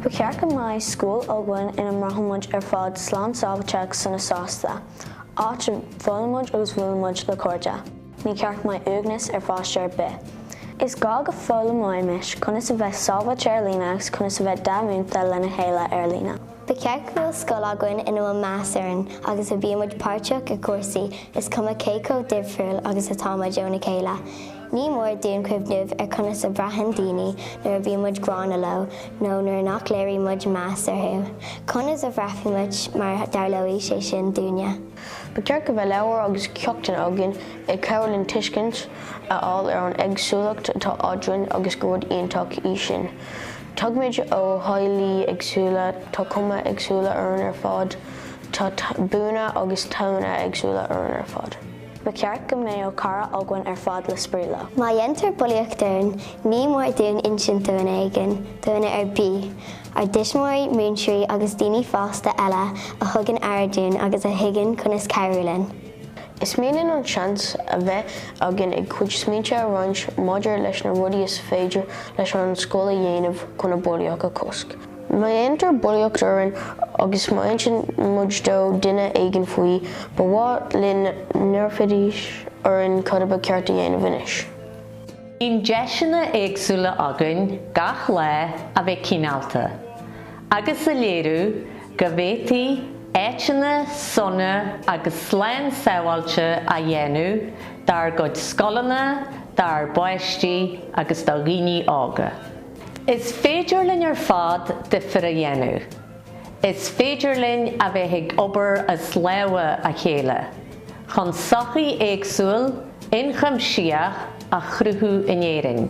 Ba cheart go mbeadh scoil againn ina mbraithimid ar fad slán sábhailte agus sona sásta, áit a bhfoghlaimímid agus a mbuailimid le cairde. Ní ceart go mbeadh uaigneas ar pháiste ar bith. Is gá go foghlaimeoimis conas a bheith sábháilte ar líne agus conas a bheith dea-mhúinte lena chéile ar líne. Ba cheart go bhfuil scoil againn ina bhfuil meas orainn agus a bhíonn muid páirteach i gcúrsaí is cuma cé chomh difriúil agus atá muid óna chéile. Ní mór dúinn cuimhneamh ar conas a bhraitheann daoine nuair a bhíonn muid gránna leo nó nuair nach léiríonn muid meas orthu. Conas a bhraithfeadh muid má dtarlódh sé sin dúinne? Ba cheart go mbeadh leabhair agus ceachtanna againn ag cabhrú linn tuiscint a fháil ar an éagsúlacht atá eadrainn agus gur rud iontach í sin. Tagaimid ó theaghlaigh éagsúla, tá cuma éagsúla orainn ar fad, tá buanna agus tallanna éagsúla againn ar fad. Ba cheart go mbeadh cara againn ar fad le spraoi leo. Má dhéantar bulaíocht orainn, ní mór dúinn insint do dhuine éigin, do dhuine ar bith, ár dtuismitheoirí, múinteoirí agus daoine fásta eile a thugann aire dúinn agus a thuigeann conas cabhrú linn. Is mian linn an seans a bheith againn ár gcuid smaointe a roinnt maidir leis na rudaí is féidir leis an scoil a dhéanamh chun an bhulaíocht a chosc. Má dhéantar bulaíocht orainn agus má insíonn muid do dhuine éigin faoi, ba mhaith linn go n-iarrfaidís orainn cad ba cheart a dhéanamh anois. Bíonn deiseanna éagsúla againn gach lá a bheith cineálta, agus a léiriú go bhféadfaí áiteanna sona agus slán sábháilte a dhéanamh dár gcuid scoileanna, do pháistí agus do dhaoine óga. Is féidir linn ar fad difear a dhéanamh. Is féidir linn a bheith ag obair as lámha a chéile chun sochaí éagsúil, ionchuimsitheach a chruthú in Éirinn.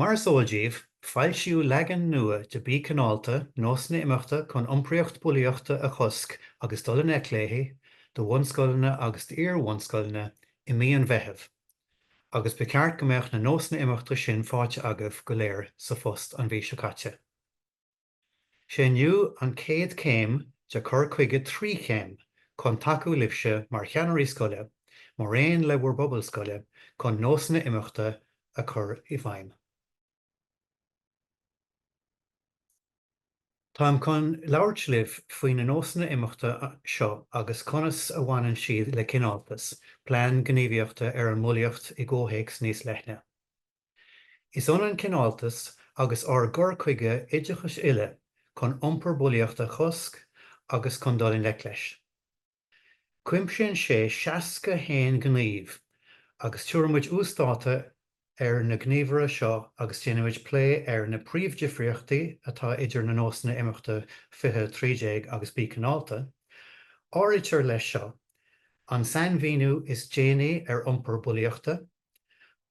Mar is eol daoibh, foilsíodh leagan nua de Bí Cineálta, Nósanna Imeachta chun Iompraíocht Bhulaíochta a Chosc agus Dul i nGleic léi do bhunscoileanna agus d'iar-bhunscoileanna i mí an Mheithimh agus ba cheart go mbeadh na nósanna imeachta sin faighte agaibh go léir sa phost an mhí seo caite. Is é inniu an chéad chéim de chur chuige trí chéim chun tacú libhse mar cheannairí scoile mar aon le bhur bpobal scoile chun nósanna imeachta a chur i bhfeidhm. Táim chun labhairt libh faoi na nósanna imeachta seo agus conas a bhaineann siad le Cineáltas, Plean Gníomhaíochta ar an mBulaíocht i gcomhthéacs níos leithne. Is ionann Cineáltas agus ár gcur chuige oideachais uile chun iompar bulaíochta a chosc agus chun dul i ngleic leis. Cuimsíonn sé 61 gníomh agus tabharfaimid uasdátú ar na gníomhartha seo agus déanfaimid plé ar na príomhdhifríochtaí atá idir na nósanna imeachta 2013 agus Bí Cineálta. Áirítear leis seo an sainmhíniú is déanaí ar iompar bulaíochta,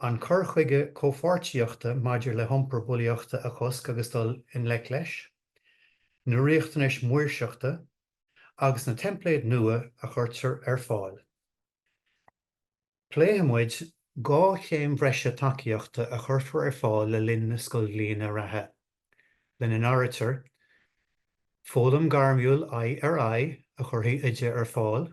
An cur chuige comhpháirtíochta maidir le hiompar bulaíochta a chosc agus dul i ngleic leis, na riachtanais mhaoirseachta agus na teimpléid nua a chuirtear ar fáil. Pléifidh muid dhá chéim bhreise tacaíochta a chuirfear ar fáil le linn na scoilbhliana reatha, lena n-áirítear, foghlaim gairmiúil aghaidh ar aghaidh a chuirfidh Oide ar fáil,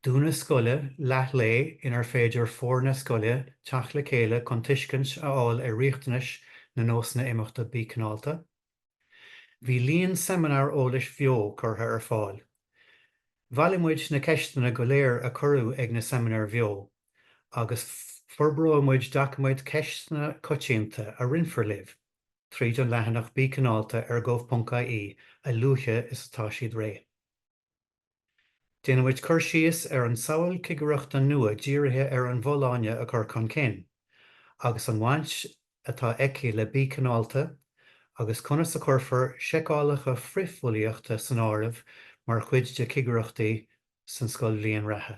dúnadh scoile leathlae inar féidir foirne scoile teacht le chéile chun tuiscint a fháil ar riachtanais na nósanna imeachta Bí Cineálta. Bhí líon seimineár eolais bheo curtha ar fáil. Bhailigh muid na ceisteanna go léir a cuireadh ag na seimineáir bheo agus forbróidh muid doiciméad ceisteanna coitianta a roinnfear libh tríd an leathanach Bí Cineálta ar gov.ie a luaithe is atá siad réidh. Déanfaidh muid cur síos ar an samhail cigireachta nua dírithe ar an bhfolláine a chur chun cinn, agus an bhaint atá aici le Bí Cineálta, agus conas a chuirfear seiceálacha frithbhulaíochta san áireamh mar chuid de chigireachtaí san scoilbhliain reatha.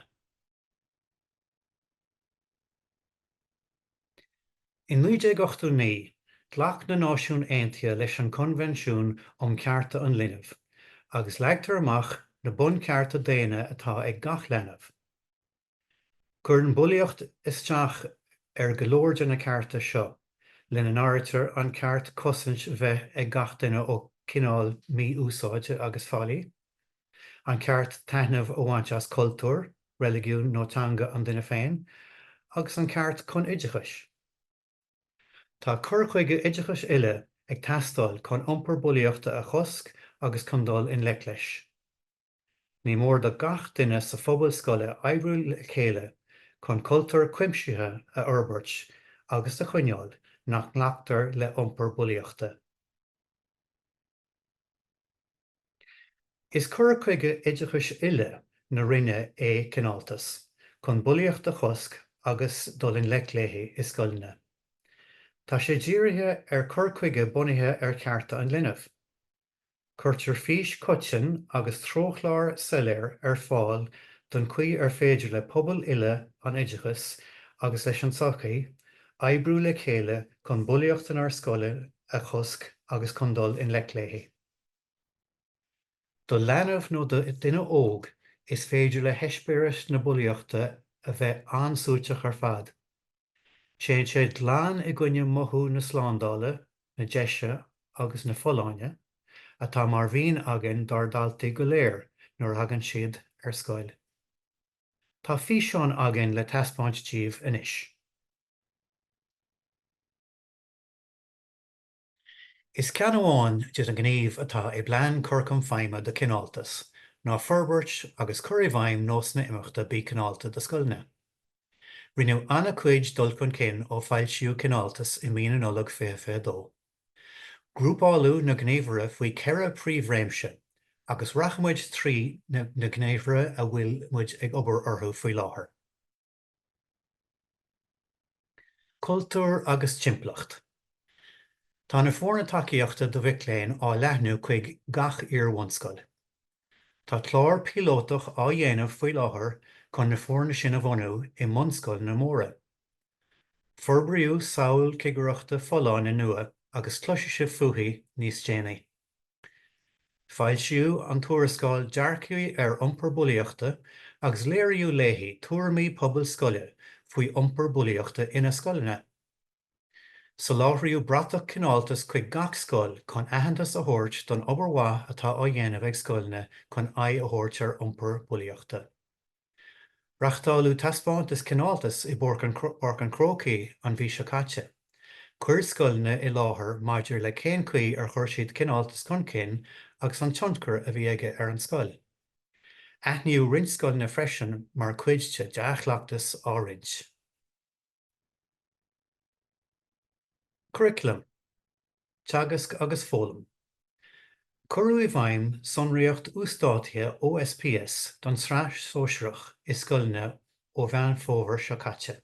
In 1989, ghlac na Náisiúin Aontaithe leis an Coinbhinsiún um Chearta an Linbh, agus leagtar amach na bunchearta daonna atá ag gach leanbh. Cuireann bulaíocht isteach ar go leor de na cearta seo, lena n-áirítear an ceart cosaint bheith ag gach duine ó chineál mí-úsáide agus faillí, An ceart taitneamh a bhaint as cultúr, reiligiún nó teanga an duine féin, agus an ceart chun oideachais. Tá cur chuige oideachais uile ag teastáil chun iompar bulaíochta a chosc agus chun dul i ngleic leis. Ní mór do gach duine sa phobal scoile oibriú le chéile chun cultúr cuimsitheach a fhorbairt agus a choinneáil nach nglactar le iompar bulaíochta. Is cur chuige oideachais uile na Roinne é cineáltas chun bulaíocht a chosc agus dul i ngleic léi i scoileanna. Tá sé dírithe ar chur chuige bunaithe ar chearta an linbh. Cuirtear fís choiteann agus treochlár soiléir ar fáil don chaoi ar féidir le pobail uile an oideachas agus leis an tsochaí oibriú le chéile chun bulaíocht inár scoileanna a chosc agus chun dul i ngleic léi. Do leanbh nó do dhuine óg, is féidir le heispéireas na bulaíochta a bheith an-suaiteach ar fad. Téann sé glan i gcoinne mothú na slándála, na deise agus na folláine atá mar mhian againn dár ndaltaí go léir nuair a thagann siad ar scoil. Tá físeán againn le taispeáint díobh anois. Is ceann amháin de na gníomh atá i bPlean Cur Chun Feidhme de Chineáltas ná forbairt agus cur i bhfeidhm nósanna imeachta Bí Cineálta do scoileanna. Rinneadh an-chuid dul chun cinn ó foilsíodh Cineáltas i mí na Nollag 2022. Grúpáladh na gníomhartha faoi ceithre príomhréimse agus rachaidh muid trí na gníomhartha a bhfuil muid ag obair orthu faoi láthair. Cultúr agus timpeallacht Tá na foirne tacaíochta do mhic léinn á leathnú chuig gach iar-bhunscoil. Tá clár píolótach á dhéanamh faoi láthair chun na foirne sin a bhunú i mbunscoileanna móra. Forbraíodh samhail cigireachta folláine nua agus cloisfidh sibh fúithi níos déanaí. Foilsíodh an tuarascáil Dearcthaí ar Iompar Bulaíochta agus léiríodh léi tuairimí pobail scoile faoi iompar bulaíochta ina scoileanna. Soláthraíodh bratach cineáltas chuig gach scoil chun aitheantas a thabhairt don obair mhaith atá á dhéanamh ag scoileanna chun aghaidh a thabhairt ar iompar bulaíochta. Reachtáladh taispeántas cineáltas i bPáirc an Chrócaigh an mhí seo caite. Chuir scoileanna i láthair maidir le cén chaoi ar chuir siad cineáltas chun cinn agus an tionchar a bhí aige ar an scoil. Aithníodh roinnt scoileanna freisin mar chuid de dea-chleachtas á roinnt. Curaclam, Teagasc agus Foghlaim. Cuireadh i bhfeidhm sonraíocht uasdátaithe OSPS don tSraith Shóisearach i scoileanna ó Mheán Fómhair seo caite.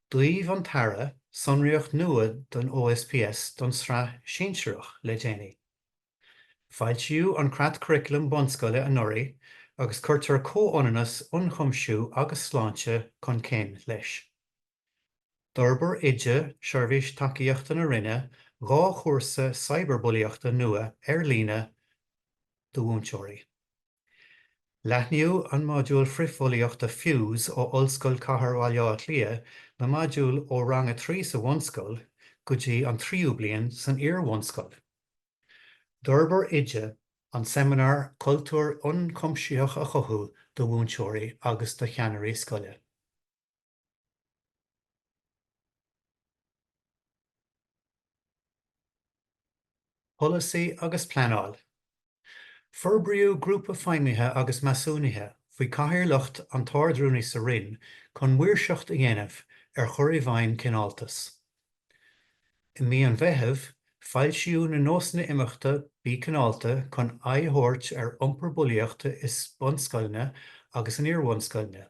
D'fhaomh an tAire sonraíocht nua don OSPS don tSraith Shinsearach le déanaí. Foilsíodh an Creatchuraclam Bunscoile anuraidh agus cuirtear comhionannas, ionchuimsiú agus sláinte chun cinn leis. D'fhorbair Oide, Seirbhís Tacaíochta na Roinne, dhá chúrsa Cibearbhulaíochta nua ar líne do mhúinteoirí. Leathnaíodh an modúl frithbhulaíochta Fuse ó Ollscoil Cathair Bhaile Átha Cliath na modúil ó rang a trí sa bhunscoil go dtí an tríú bliain san iar-bhunscoil. D'fhorbair Oide an seimineár cultúr ionchuimsitheach a chothú do mhúinteoirí agus do cheannairí scoile. Polasaí agus pleanáil. Forbraíodh Grúpa Feidhmithe agus Measúnaithe faoi chathaoirleacht an tArdrúnaí sa Roinn chun maoirseacht a dhéanamh ar chur i bhfeidhm Cineáltas. I mí an Mheithimh, foilsíodh na Nósanna Imeachta 'Bí Cineálta' chun aghaidh a thabhairt ar iompar bulaíochta i mbunscoileanna agus in iarbhunscoileanna.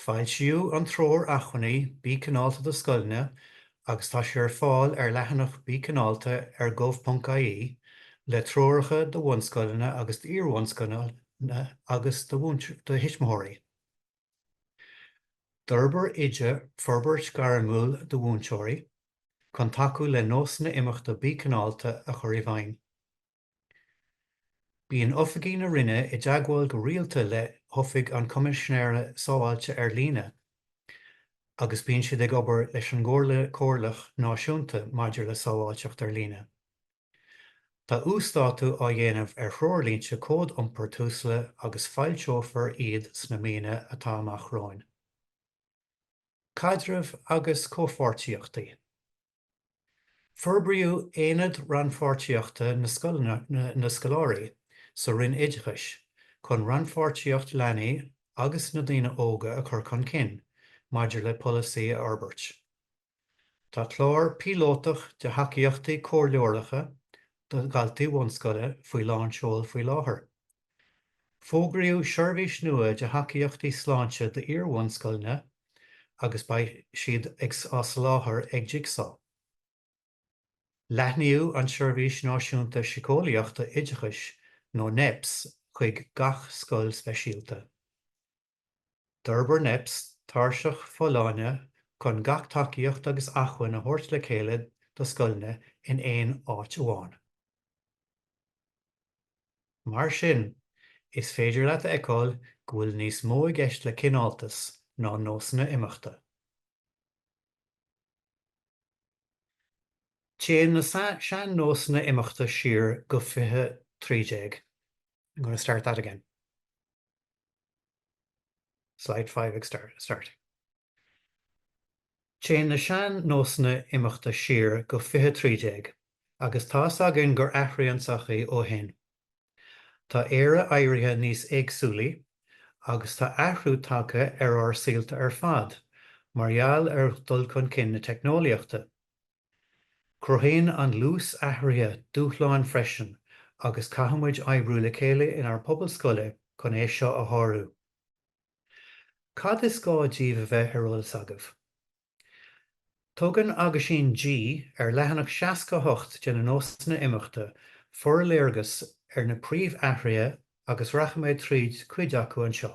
Foilsíodh an treoir acmhainní Bí Cineálta do Scoileanna agus tá sé ar fáil ar leathanach Bí Cineálta ar gov.ie le treoracha do bhunscoileanna agus d'iar-bhunscoileanna agus do thuismitheoirí. D'fhorbair Oide Forbairt Ghairmiúil do Mhúinteoirí chun tacú le nósanna imeachta Bí Cineálta a chur i bhfeidhm. Bíonn oifigí na Roinne i dteagmháil go rialta le hOifig an Choimisinéara Sábháilte ar Líne agus bíonn siad ag obair leis an gComhairle Chomhairleach Náisiúnta maidir le Sábháilteacht ar Líne. Tá uasdátú á dhéanamh ar threoirlínte cód iompair Tusla agus foilseofar iad sna míonna atá amach romhainn. Caidreamh agus Comhpháirtíochtaí. Forbraíodh Aonad Rannpháirtíochta na Scoláirí sa Roinn Oideachais chun rannpháirtíocht leanaí agus na daoine óga a chur chun cinn maidir le polasaí a fhorbairt. Tá clár píolótach de thacaíochtaí comhairleoireachta do dhaltaí bhunscoile faoi lánseol faoi láthair. Fógraíodh seirbhís nua de thacaíochtaí sláinte d'iar-bhunscoileanna agus beidh siad á soláthar ag Jigsaw. Leathnaíodh an tSeirbhís Náisiúnta Síceolaíochta Oideachais nó Neps chuig gach scoil speisialta. D'fhorbair NEPS tairseach folláine chun gach tacaíocht agus acmhainn a thabhairt le chéile do scoileanna in aon áit amháin. Mar sin, is féidir leat a fheiceáil go bhfuil níos mó i gceist le cineáltas ná nósanna imeachta. Téann na sean-nósanna imeachta siar go 2013. I'm going to start that again. Slide five starting. Téann na sean-nósanna imeachta siar go 2013 agus tá's againn gur athraigh an tsochaí ó shin. Tá Éire éirithe níos éagsúlaí agus tá athrú tagtha ar ár saolta ar fad mar gheall ar dul chun cinn na teicneolaíochta. Cruthaíonn an luas athraithe dúshláin freisin agus caithfidh muid oibriú le chéile inár bpobail scoile chun é seo a shárú. Cad is gá daoibh a bheith ar eolas agaibh? Tugann Aguisín G ar leathanach 68 de na nósanna imeachta forléargas ar na príomhathruithe agus rachaidh mé tríd cuid acu anseo.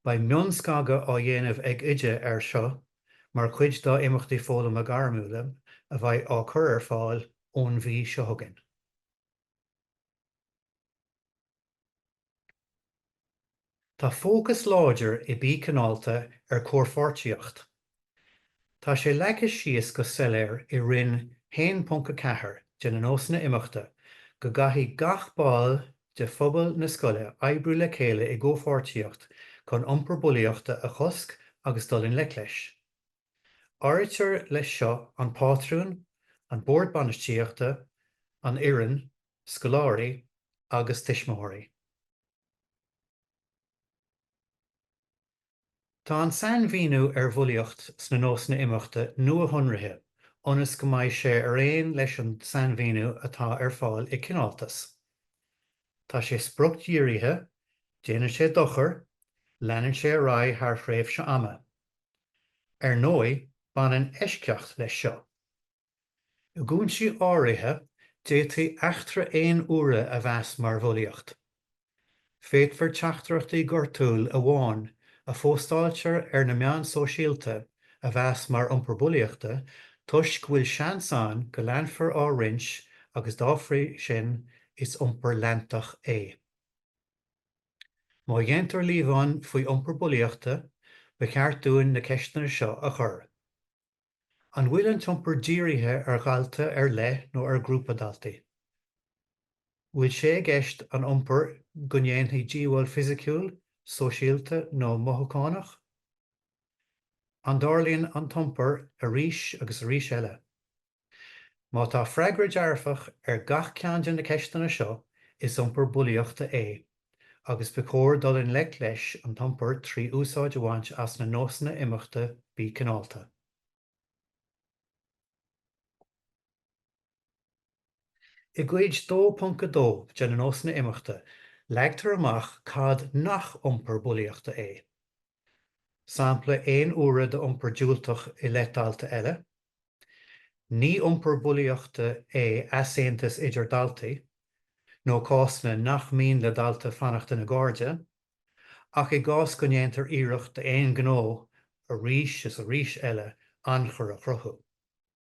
Beidh mionscagadh á dhéanamh ag Oide ar seo mar chuid dá imeachtaí foghlama gairmiúla a bheidh á chur ar fáil ón mhí seo chugainn. Tá fócas láidir i Bí Cineálta ar comhpháirtíocht Tá sé leagtha síos go soiléir i Roinn 1.4 de na nósanna imeachta go gcaithfidh gach ball de phobal na scoile oibriú le chéile i gcomhpháirtíocht chun iompar bulaíochta a chosc agus dul i ngleic leis. Áirítear leis seo an pátrún, an bord bainistíochta, an fhoireann, scoláirí agus tuismitheoirí. Tá an sainmhíniú ar bhulaíocht sna nósanna imeachta nuashonraithe ionas go mbeidh sé ar aon leis an sainmhíniú atá ar fáil i Cineáltas. Tá sé spriocdhírithe, déanann sé dochar, leanann sé ar aghaidh thar thréimhse ama. Ar ndóigh, baineann eisceacht leis seo. I gcúinsí áirithe, d'fhéadfaí eachtra aon uaire a mheas mar bhulaíocht. Féadfar teachtaireachtaí gortúil amháin a phóstáiltear ar na meáin sóisialta a mheas mar iompar bulaíochta toisc go bhfuil seans ann go leanfar á roinnt agus dá bhrí sin is iompar leantach é. Má dhéantar líomhain faoi iompar bulaíochta, ba cheart dúinn na ceisteanna seo a chur. An bhfuil an t-iompar dírithe ar dhalta ar leith nó ar ghrúpa daltaí? An bhfuil sé i gceist san iompar go ndéanfaí díobháil fisiciúil, sóisialta nó mothúchánach? An dtarlaíonn an t-iompar arís agus arís eile? Má tá freagra dearfach ar gach ceann de na ceisteanna seo, is iompar bulaíochta é. agus ba chóir dul i ngleic leis an t-iompar trí úsáid a bhaint as na nósanna imeachta Bí Cineálta. I gCuid 2.2 de na Nósanna Imeachta, leagtar amach cad nach iompar bulaíochta é. Sampla aon uaire d'iompar diúltach i leith dalta eile. Ní iompar bulaíochta é easaontas idir daltaí, nó cásanna nach mian le daltaí fanacht ina gcairde, ach i gcás go ndéantar iarracht d'aon ghnó arís is arís eile anacair a chruthú.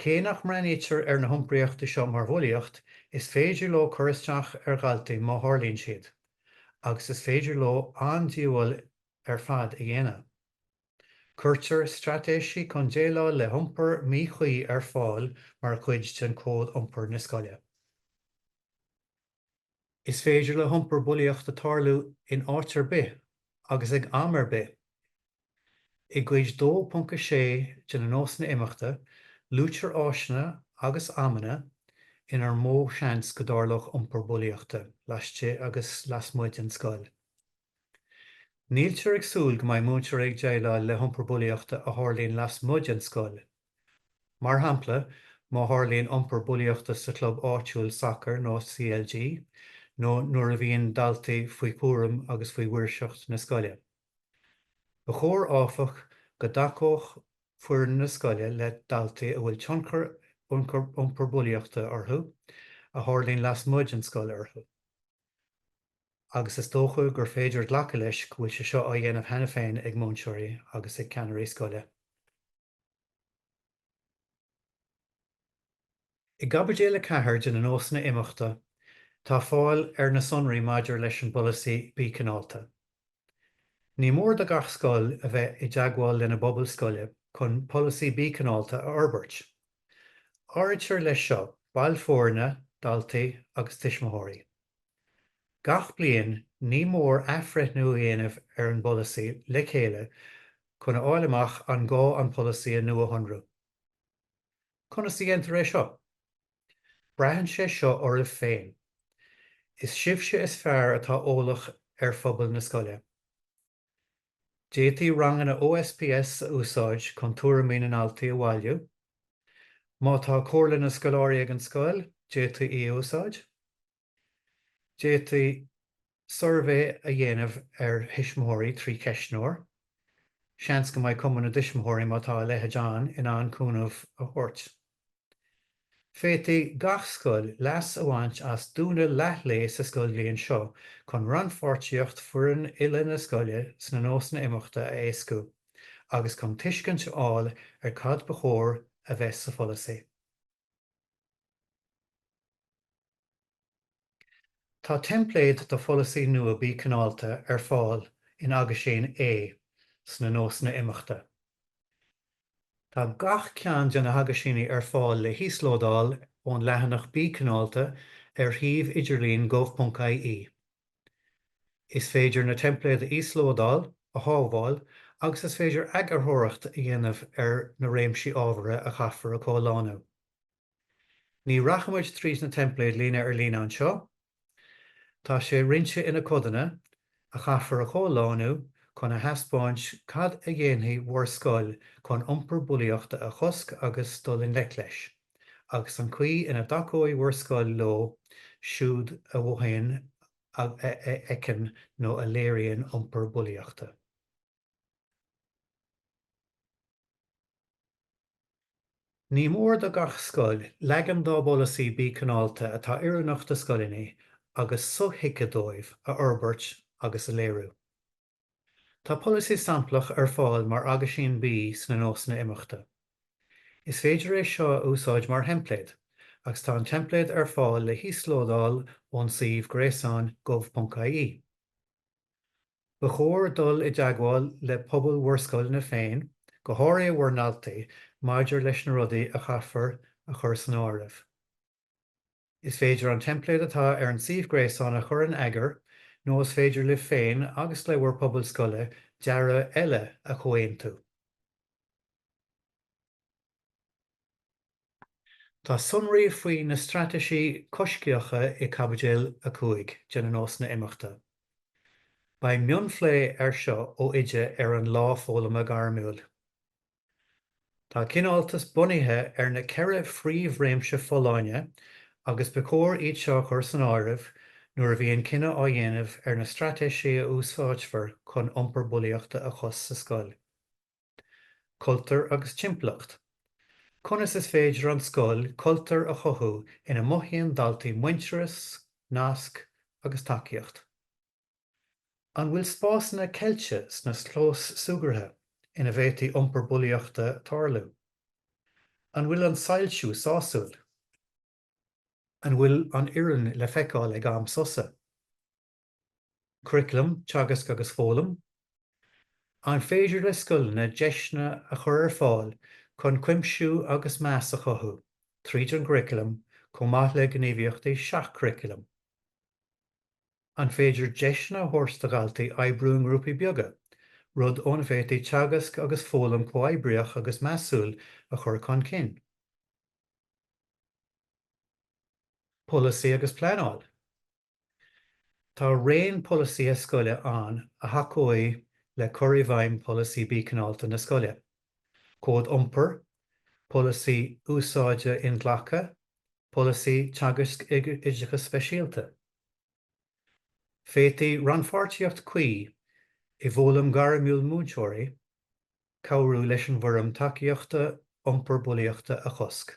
Cé nach mbreathnaítear ar na hiompraíochtaí seo mar bhulaíocht, is féidir leo cur isteach ar dhaltaí má tharlaíonn siad, agus is féidir leo an-díobháil ar fad a dhéanamh. Cuirtear straitéisí chun déileáil le hiompar míchuí ar fáil mar chuid den Cód Iompair na scoile. Is féidir le hiompar bulaíochta tarlú in áit ar bith agus ag am ar bith. I gCuid 2.6 de na Nósanna Imeachta luaitear áiteanna agus amanna inar mó seans go dtarlódh iompar bulaíochta laistigh agus lasmuigh den scoil. Níltear ag súil go mbeidh múinteoirí ag déileáil le hiompar bulaíochta a tharlaíonn lasmuigh den scoil. Mar shampla, má tharlaíonn iompar bulaíochta sa chlub áitiúil sacair nó CLG, nó nuair a bhíonn daltaí faoi chúram agus faoi mhaoirseacht na scoile. Ba chóir, áfach, go dtacódh foireann na scoile le daltaí a bhfuil tionchar ag iompar bulaíochta orthu a tharlaíonn lasmuigh den scoil orthu, agus is dócha gur féidir glacadh leis go bhfuil sé seo á dhéanamh cheana féin ag múinteoirí agus ag ceannairí scoile. I gCaibidil 4 de na Nósanna Imeachta tá fáil ar na sonraí maidir leis an bpolasaí Bí Cineálta. Ní mór do gach scoil a bheith i dteagmháil lena bpobal scoile chun polasaí Bí Cineálta a fhorbairt. Áirítear leis seo baill foirne, daltaí agus tuismitheoirí. Gach bliain ní mór athbhreithniú a dhéanamh ar an bpolasaí le chéile chun a fháil amach an gá an polasaí a nuashonrú. Conas a dhéantar é seo? Braitheann sé seo oraibh féin. Is sibhse is fearr atá eolach ar phobal na scoile. D'fhéadfaí ranganna OSPS a úsáid chun tuairimí na ndaltaí a bhailiú. Má tá comhairle na scoláirí ag an scoil, d'fhéadfaí í a úsáid. D'fhéadfaí suirbhé a dhéanamh ar thuismitheoirí trí cheistneoir. Seans go mbeidh Cumann na dTuismitheoirí, má tá a leithéid ann, in ann cúnamh a thabhairt. Féadfaidh gach scoil leas a bhaint as dúnadh leathlae sa scoilbhliain seo chun rannpháirtíocht foireann uile na scoile sna nósanna imeachta a éascú agus chun tuiscint a fháil ar cad ba chóir a bheith sa pholasaí. Tá teimpléad do pholasaí nua Bí Cineálta ar fáil in Aguisín A sna nósanna imeachta. Tá gach ceann de na haguisíní ar fáil le híoslódáil ón leathanach Bí Cineálta ar shuíomh idirlín gov.ie. Is féidir na teimpléid a íoslódáil, a shábháil agus is féidir eagarthóireacht a dhéanamh ar na réimsí ábhartha a chaithfear a chomhlánú. Ní rachaidh muid trís na teimpléid líne ar líne anseo. Tá sé roinnte ina codanna, a chaithfear a chomhlánú chun a thaispeáint cad a dhéanfaidh bhur scoil chun iompar bulaíochta a chosc agus dul i ngleic leis, agus an chaoi ina dtacóidh bhur scoil leo siúd a mhothaíonn, a fheiceann nó a léiríonn iompar bulaíochta. Ní mór do gach scoil leagan dá bpolasaí Bí Cineálta atá oiriúnach do scoileanna agus so-thuigthe dóibh a fhorbairt agus a léiriú. Tá polasaí samplach ar fáil mar Aguisín B sna Nósanna Imeachta. Is féidir é seo a úsáid mar theimpléad agus tá an teimpléad ar fáil le híoslódáil ón suíomh gréasáin gov.ie. Ba chóir dul i dteagmháil le pobal bhur scoileanna féin, go háirithe bhur ndaltaí, maidir leis na rudaí a chaithfear a chur san áireamh. Is féidir an teimpléad atá ar an suíomh gréasáin a chur in eagar nó is féidir libh féin agus le bhur bpobal scoile dearadh eile a chomhaontú. Tá sonraí faoi na straitéisí coisctheacha i gCaibidil 5 de na Nósanna Imeachta. Beidh mionphlé air seo ó Oide ar an lá foghlama gairmiúil. Tá cineáltas bunaithe ar na ceithre phríomhréimse folláine agus ba chóir iad seo a chur san áireamh nuair a bhíonn cinneadh á dhéanamh ar na straitéisí a úsáidfear chun iompar bulaíochta a chosc sa scoil. Cultúr agus Timpeallacht. Conas is féidir an scoil cultúr a chothú ina mothaíonn daltaí muintearas, nasc agus tacaíocht? An bhfuil spásanna ceilte sna clóis súgartha ina bhféadfadh iompar bulaíochta tarlú? An bhfuil an soilsiú sásúil? An bhfuil an fhoireann le feiceáil ag am sosa? Curaclam Teagasc agus Foghlaim, An féidir le scoileanna deiseanna a chur ar fáil chun cuimsiú agus meas a chothú tríd an gcuraclam chomh maith le gníomhaíochtaí seach-churaclaim? An féidir deiseanna a thabhairt do dhaltaí oibriú i ngrúpaí beaga, rud óna bhféadfaí teagasc agus foghlaim comhoibríoch agus measúil a chur chun cinn? Polasaí agus Pleanáil. Tá raon polasaithe scoile ann a thacóidh le cur i bhfeidhm Pholasaí Bí Cineálta na Scoile, Cód Iompair, Polasaí Úsáide Inghlactha, Polasaí Teagaisc Oideachais Speisialta. D'fhéadfadh rannpháirtíocht cuí i bhfoghlaim ghairmiúil múinteoirí cabhrú leis an bhfoirm tacaíochta iompar bulaíochta a chosc.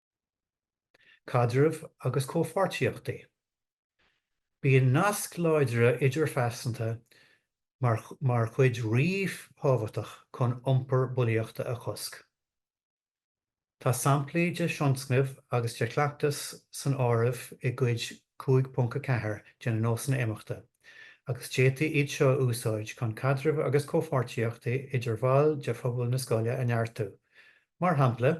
Caidreamh agus comhpháirtíochtaí, Bíonn naisc láidre idirphearsanta mar chuid ríthábhachtach chun iompar bulaíochta a chosc. Tá samplaí de thionscnaimh agus de chleachtais san áireamh i gCuid 5.4 de na Nósanna Imeachta agus d'fhéadfaí iad seo a úsáid chun caidreamh agus comhpháirtíochtaí idir bhaill de phobal na scoile a neartú, mar shampla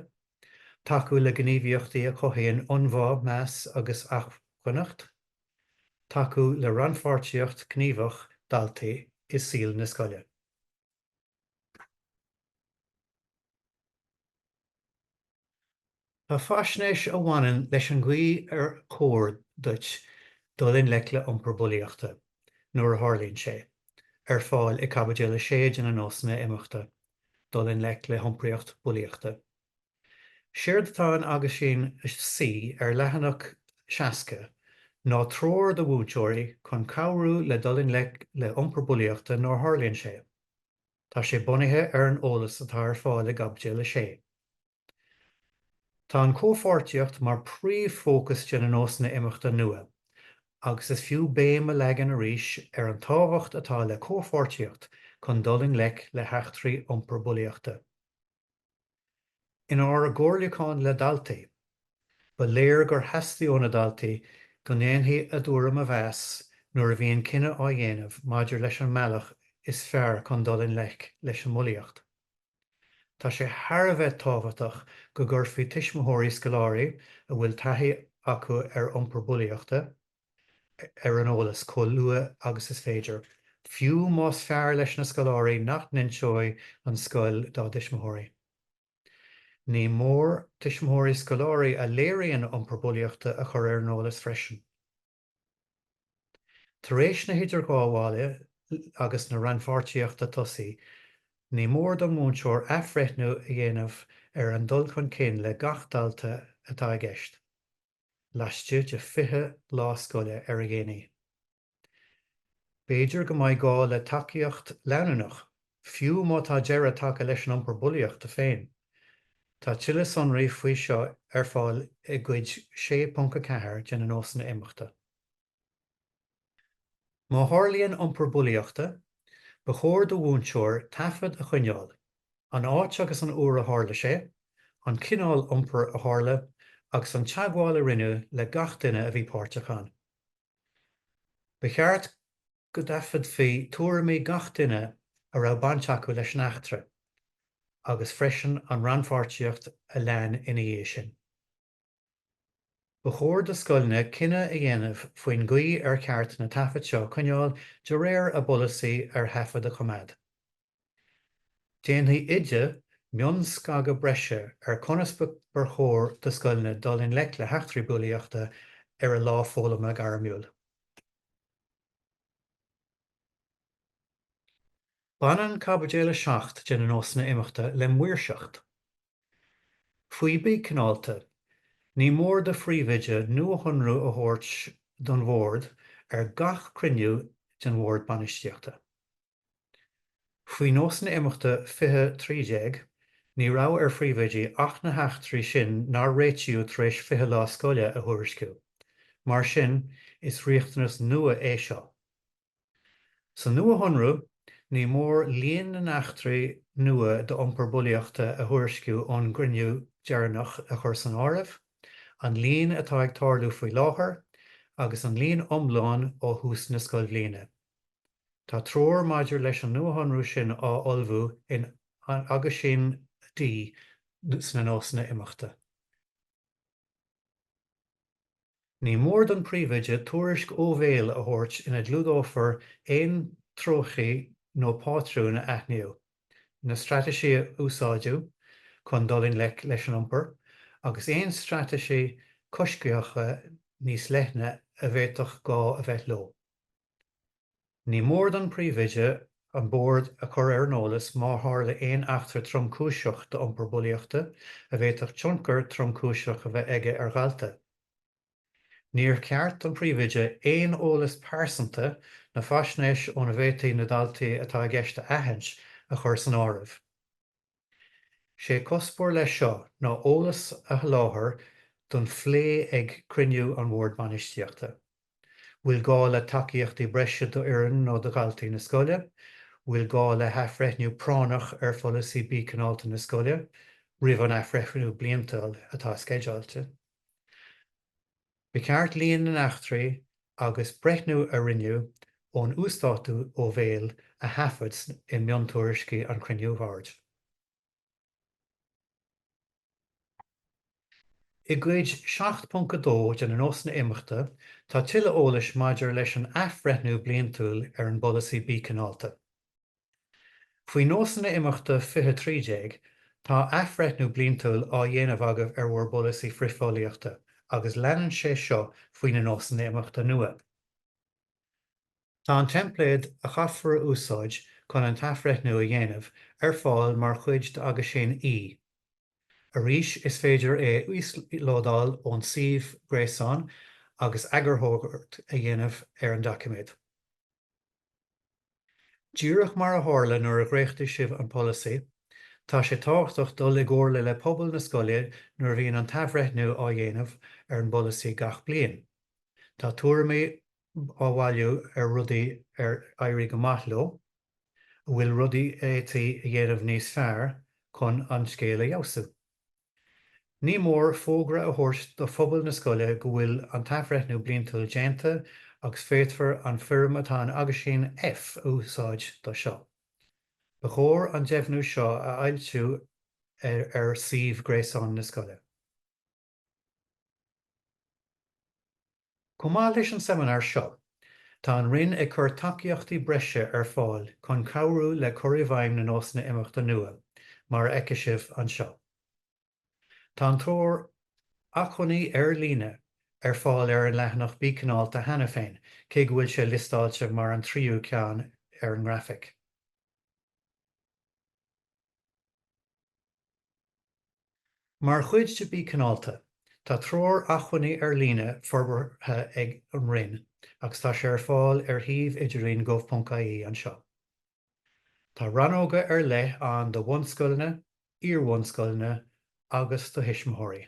tacú le gníomhaíochtaí a chothaíonn ionbhá, meas agus acmhainneacht, tacú le rannpháirtíocht ghníomhach daltaí i saol na scoile. Tá faisnéis a bhaineann leis an gcaoi ar chóir duit dul i ngleic le iompar bulaíochta, nuair a tharlaíonn sé, ar fáil i gCaibidil 6 de na Nósanna Imeachta. dul i ngleic le hiompraíocht bulaíochta. Séard atá in Aguisín C ar leathanach 60 ná treoir do mhúinteoirí chun cabhrú le dul i ngleic le iompar bulaíochta nuair a tharlaíonn sé. Tá sé bunaithe ar an eolas atá ar fáil i gCaibidil 6. Tá an chomhpháirtíocht mar príomhfhócas de na nósanna imeachta nua agus is fiú béim a leagan arís ar an tábhacht atá le comhpháirtíocht chun dul i ngleic le heachtraí iompar bulaíochta. Inár gcomhairliúchán le daltaí, ba léir gur theastaigh ó na daltaí go ndéanfaí a dtuairim a mheas nuair a bhíonn cinneadh á dhéanamh maidir leis an mbealach is fearr chun dul i ngleic leis an mbulaíocht. Tá sé thar a bheith tábhachtach go gcuirfí tuismitheoirí scoláirí a bhfuil taithí acu ar iompar bulaíochta ar an eolas chomh luath agus is féidir, fiú más fearr leis na scoláirí nach n-inseoidh an scoil dá dtuismitheoirí. Ní mór tuismitheoirí scoláirí a léiríonn iompar bulaíochta a chur ar an eolas freisin. Tar éis na hidirghabhála agus na rannpháirtíochta tosaí, ní mór don mhúinteoir athbhreithniú a dhéanamh ar an dul chun cinn le gach dalta atá i gceist, laistigh de 20 lá scoile ar a dhéanaí. B'fhéidir go mbeidh gá le tacaíocht leanúnach fiú má tá deireadh tagtha leis an iompar bulaíochta féin. Tá tuilleadh sonraí faoi seo ar fáil i gCuid 6.4 de na Nósanna Imeachta. Má tharlaíonn iompar bulaíochta, ba chóir do mhúinteoir taifead a choinneáil, an áit agus an uair a tharla sé, an cineál iompar a tharla, agus an teagmháil a rinneadh le gach duine a bhí páirteach ann. Ba cheart go dtaifeadfaí tuairimí gach duine a raibh baint acu leis an eachtra agus freisin an rannpháirtíocht a lean ina dhiaidh sin. Ba chóir do scoileanna cinneadh a dhéanamh faoin gcaoi ar cheart na taifead seo a choinneáil de réir a bpolasaí ar thaifead a choimeád. Déanfaidh Oide mionscagadh breise ar conas ba chóir do scoileanna dul i ngleic le heachtraí bulaíochta ar a lá foghlama gairmiúil. Baineann Caibidil 7 de na Nósanna Imeachta le maoirseacht faoi Bí Cineálta. Ní mór do Phríomhoide nuashonrú a thabhairt don Bhord ar gach cruinniú den Bhord Bainistíochta. Faoi nósanna imeachta 20 13, ní raibh ar phríomhoidí ach na heachtraí sin nár réitíodh tar éis 20 lá scoile a thuairisciú. Mar sin, is riachtanas nua é seo. San nuashonrú, ní mór líon na n-eachtraí nua d'iompar bulaíochta a thuairisciú ón gcruinniú deireanach a chur san áireamh, an líon atá ag tarlú faoi láthair, agus an líon iomlán ó thús na scoilbhliana. Tá treoir maidir leis an nuashonrú sin á ullmhú in Aguisín D sna nósanna imeachta. Ní mór don Phríomhoide tuairisc ó bhéal a thabhairt ina gclúdófar aon treochtaí nó pátrúin a aithníodh, na straitéisí a úsáideadh chun dul i ngleic leis an iompar, agus aon straitéisí coisctheacha níos leithne a bhféadfadh gá a bheith leo. Ní mór don Phríomhoide an Bord a chur ar an eolas má tharla aon eachtra tromchúiseach d'iompar bulaíochta a bhféadfadh tionchar tromchúiseach a bheith aige ar dhalta. Níor cheart don Phríomhoide aon eolas pearsanta nó faisnéis óna bhféadfaí na daltaí atá i gceist a aithint a chur san áireamh. Sé cuspóir leis seo ná eolas a sholáthar don phlé ag cruinniú an Bhord Bainistíochta. Bhfuil gá le tacaíochtaí breise d'fhoireann nó do dhaltaí na scoile? Bhfuil gá le hathbhreithniú práinneach ar pholasaí Bí Cineálta na scoile roimh an athbhreithniú bliantúil atá sceideáilte? Ba cheart líon na n-eachtraí agus breithniú a rinneadh ón uasdátú ó bhéal a thaifead i miontuairiscí an chruinniú Boird. I gCuid 7.2 de na Nósanna Imeachta tá tuilleadh eolais maidir leis an athbhreithniú bliantúil ar an bPolasaí Bí Cineálta. Faoi nósanna imeachta 20 13, tá athbhreithniú bliantúil á dhéanamh agaibh ar bhur bpolasaí frithbhulaíochta agus leanann sé seo faoi na nósanna imeachta nua. Tá an teimpléad a chaithfear a úsáid chun an t-athbhreithniú a dhéanamh ar fáil mar chuid d'Aguisín E. Arís, is féidir é a íoslódáil ón suíomh gréasáin agus eagarthóireacht a dhéanamh ar an doiciméad. Díreach mar a tharla nuair a dhréachtaigh sibh an polasaí, tá sé tábhachtach dul i gcomhairle le pobal na scoile nuair a bhíonn an t-athbhreithniú á dhéanamh ar an bpolasaí gach bliain. Tá tuairimí á bhailiú ar rudaí ar éirigh go maith leo, a bhfuil rudaí a fhéadfaí a dhéanamh níos fearr chun an scéal a fheabhsú. Ní mór fógra a thabhairt do phobal na scoile go bhfuil an t-athbhreithniú bliantúil déanta agus féadfar an fhoirm atá in Aguisín F a úsáid do seo. Ba chóir an deimhniú seo a fhoilsiú ar suíomh gréasáin na scoile. Chomh maith leis an seimineár seo, tá an Roinn ag cur tacaíochtaí breise ar fáil chun cabhrú le cur i bhfeidhm na nósanna imeachta nua, mar a fheicfidh sibh anseo. Tá an treoir acmhainní ar líne ar fáil ar an leathanach Bí Cineálta cheana féin, cé go bhfuil sé liostáilte mar an tríú ceann ar an ngrafaic. Mar chuid de Bí Cineálta, tá treoir acmhainní ar líne forbartha ag an Roinn agus tá sé ar fáil ar shuíomh idirlín gov.ie anseo. Tá rannóga ar leith ann do bhunscoileanna, iar-bhunscoileanna agus do thuismitheoirí.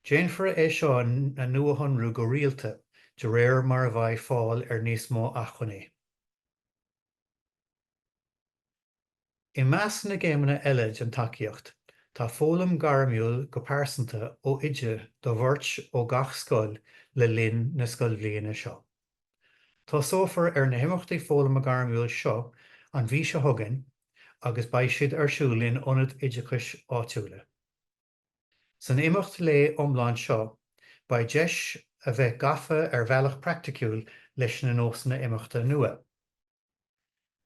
Déanfar é seo a nuashonrú go rialta de réir mar a bheidh fáil ar níos mó acmhainní. I measc na gcéimeanna eile den tacaíocht, tá foghlaim gairmiúil go pearsanta ó Oide do bheirt ó gach scoil le linn na scoilbhliana seo. Tosófar ar na himeachtaí foghlama gairmiúil seo an mhí seo chugainn agus beidh siad ar siúl in ionaid oideachais áitiúla. San imeacht lae iomlán seo beidh deis a bheith gafa ar bhealach praiticiúil leis na nósanna imeachta nua.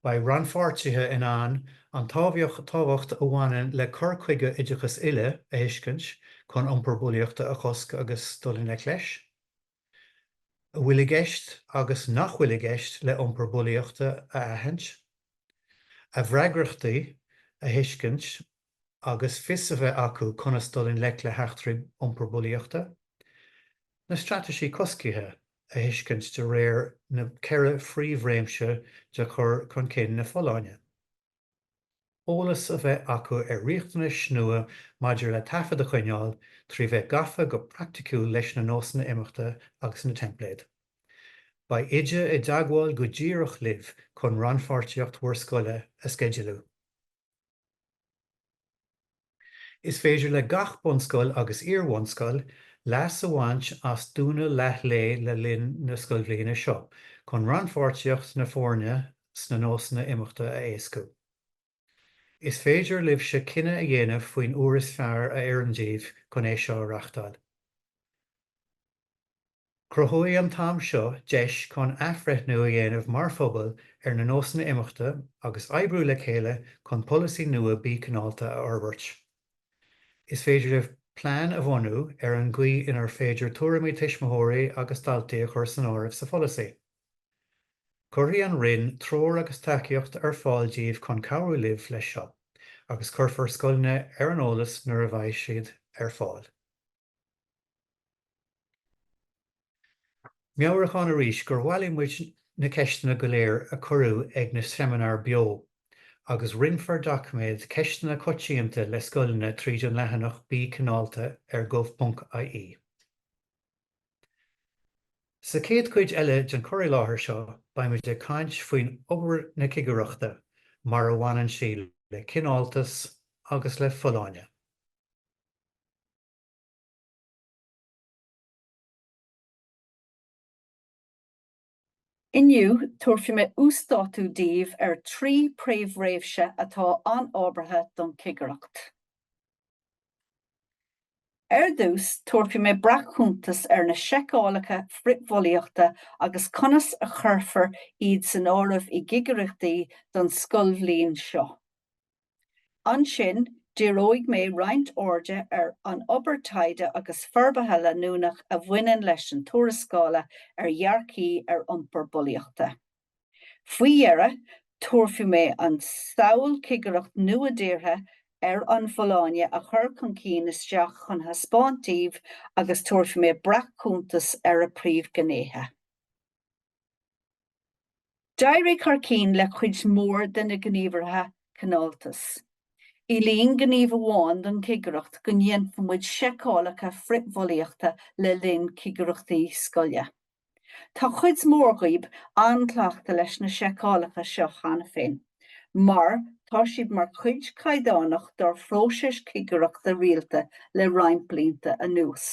Beidh rannpháirtithe in ann an tábhacht a bhaineann le cur chuige oideachas uile a thuiscint chun iompar bulaíochta a chosc agus dul i ngleic leis. a bhfuil i gceist agus nach bhfuil i gceist le iompar bulaíochta a aithint. a bhfreagrachtaí a thuiscint. agus fios a bheith acu conas dul i ngleic le heachtraí iompair bulaíochta, na straitéisí coscaithe a thuiscint de réir na ceithre phríomhréimse de chur chun cinn na folláine, eolas a bheith acu ar riachtanais nua maidir le taifead a choinneáil trí bheith gafa go praiticiúil leis na nósanna imeachta agus na teimpléid. Beidh Oide i dteagmháil go díreach libh chun rannpháirtíocht bhur scoile a sceidealú. Is féidir le gach bunscoil agus iar-bhunscoil leas a bhaint as dúnadh leathlae le linn na scoilbhliana seo chun rannpháirtíocht na foirne sna nósanna imeachta a éascú. Is féidir libhse cinneadh a dhéanamh faoin uair is fearr a oireann daoibh chun é seo a reáchtáil. Cruthóidh an t-am seo deis chun athbhreithniú a dhéanamh mar phobal ar na nósanna imeachta agus oibriú le chéile chun polasaí nua Bí Cineálta a fhorbairt. Is féidir libh plean a bhunú ar an gcaoi inar féidir tuairimí tuismitheoirí agus daltaí a chur san áireamh sa pholasaí. Cuirfidh an Roinn treoir agus tacaíocht ar fáil díbh chun cabhrú libh leis seo agus cuirfear scoileanna ar an eolas nuair a bheidh siad ar fáil. Meabhrúchán arís gur bhailigh muid na ceisteanna go léir a cuireadh ag na seimineáir beo, agus roinnfear doiciméad Ceisteanna Coitianta le scoileanna tríd an leathanach Bí Cineálta ar gov.ie. Sa chéad chuid eile den chur i láthair seo beimid ag caint faoin obair na cigireachta mar a bhaineann sí le cineáltas agus le folláine. Inniu, tabharfaidh mé uasdátú daoibh ar thrí príomhréimse atá an-ábhartha don chigireacht. Ar dtús, tabharfaidh mé breac-chuntas ar na seiceálacha frithbhulaíochta agus conas a chuirfear iad san áireamh i gcigireachtaí don scoilbhliain seo. Ansin, díreoidh mé roinnt airde ar an obair taighde agus forbartha leanúnach a bhaineann leis an tuarascála ar dhearcthaí ar iompar bulaíochta. Faoi dheireadh, tabharfaidh mé an tsamhail cigireacht nua-deartha ar an bhfolláine a chur chun cinn isteach chun a thaispeáint daoibh agus tabharfaidh mé breac-chuntas ar a príomhghnéithe. D'éirigh thar cinn le cuid mhór de na gníomhartha cineáltas. Éilíonn gníomh amháin don chigireacht go ndéanfadh muid seiceálacha frithbhulaíochta le linn cigireachtaí scoile. Tá cuid mhór daoibh an-chleachta leis na seiceálacha seo cheana féin mar tá siad mar cuid caighdeánach dár phróiseis cigireachta rialta le roinnt blianta anuas.